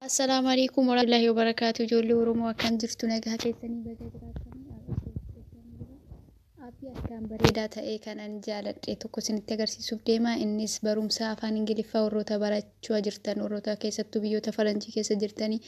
Assalaamu alaikum warahmatullahi wabarakatuh ijoollee Oromoo akkam jirtu nagaa keessanii baga jiraatanii Aappii akkaan bareedaa ta'e kan ani jaaladhe tokko isinitti agarsiisuuf deema innis barumsa afaan ingiliffaa warroota barachaa jirtan warroota keessattuu biyyoota faranjii keessa jirtanii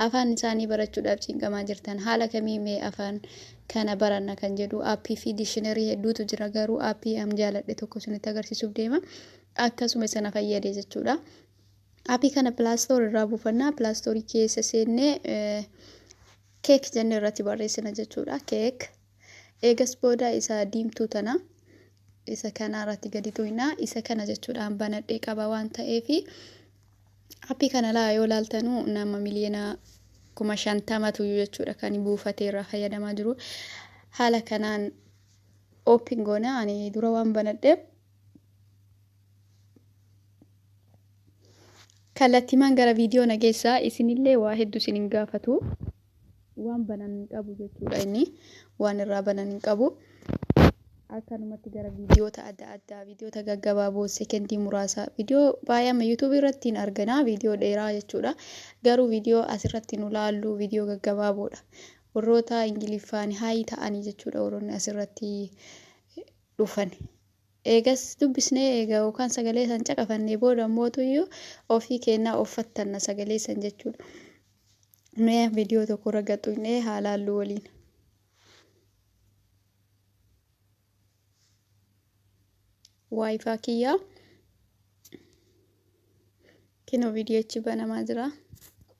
afaan isaanii barachuudhaaf cinqamaa jirtan haala kamii mee afaan kana baranna kan jedhu aappii fi diishinarii hedduutu jira garuu aappii an jaaladhe tokko isinitti agarsiisuuf deema akkasuma isana fayyade jechuudha. Appii kana Play Store irraa buufanna. Play Store keessa seennee keek jennee irratti barreessina jechuudha. Keek. Eegas booda isa diimtuu tana isa kana irratti gadi tuqna. Isa kana jechuudhaan banadhee qaba waan ta'eef appii kana laa yoo laaltanuu nama miliyoona kuma shantamatu jechuudha kan buufatee irraa fayyadamaa jiru. Haala kanaan oopin goona ani dura waan banadheef Kallattiimaan gara viidiyoo na geessaa isinillee waa hedduu isin hin gaafatu. Waan banan hin qabu jechuudha inni waan irraa banan hin qabu. Akkanumatti gara viidiyoota adda addaa viidiyoota gaggabaaboo sekendii muraasa viidiyoo baay'eema yuutuubii irratti hin argina viidiyoo dheeraa jechuudha. Garuu viidiyoo asirratti nu laallu viidiyoo gaggabaaboodha. Warroota Ingiliffaan haayii ta'anii jechuudha warroonni asirratti dhufan. Eegas dubbisnee eega yookaan sagalee san caqafannee booda ammootuyyuu ofii keennaa of fattanna sagalee san jechuudha. Mee viidiyoo tokko irra gad tuqnee haa laallu waliin. Waayifaa kiyyaa kinoo viidiyoochi banamaa jira.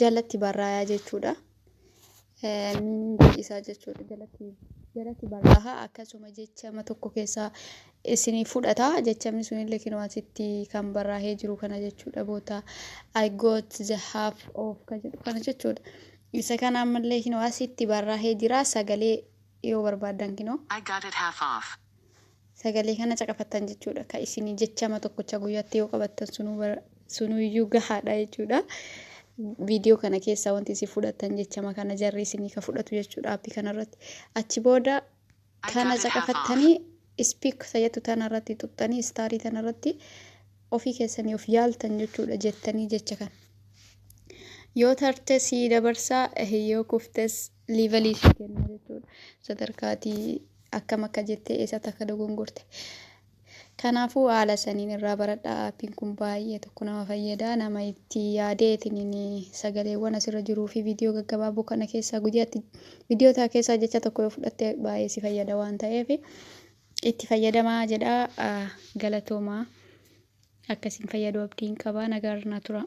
jalatti barraayaa jechuudha. Miingi isaa jechuudha jalatti jalatti barraaha akkasuma jechama tokko keessaa isinii fudhata jechamni sunillee kinoo asitti kan barraahee jiru kana jechuudha boota I got the half of kan jedhu kana jechuudha. Isa kana ammallee kinoo asitti barraahee jira sagalee yoo barbaadan kinoo. I got it half off. Sagalee kana caqafattan jechuudha. Ka isinii jechama tokkocha guyyatti yoo qabattan sunuu bara sunuu iyyuu gahaadha jechuudha. Viidiyoo kana keessaa wanti isin fudhattan jechama kana jarri isinii ka fudhatu jechuudha aappii kanarratti. Achi booda kana caqafattanii ispiik sayatu tanarratti xuxxanii istaarii tanarratti ofii keessanii of yaaltan jechuudha jettanii jecha kana. Yoo tarte sii dabarsaa yoo kuftes level ishii kenna jechuudha. Sadarkaa ati akkam akka jettee eessatti akka dogongorte. Kanaafuu haala saniin irraa baradhaa aappiin kun baay'ee tokko nama fayyada. Nama itti yaadee itiniin sagaleewwan asirra jiruu fi viidiyoo gaggabaaboo kana keessaa guyyaatti viidiyoo ta'a keessaa jecha tokko yoo fudhatte baay'ee si fayyada waan ta'eef itti fayyadamaa jedhaa ah, galatoomaa. Akkasiin fayyaduu abdiin qabaa nagaa irraa turaa.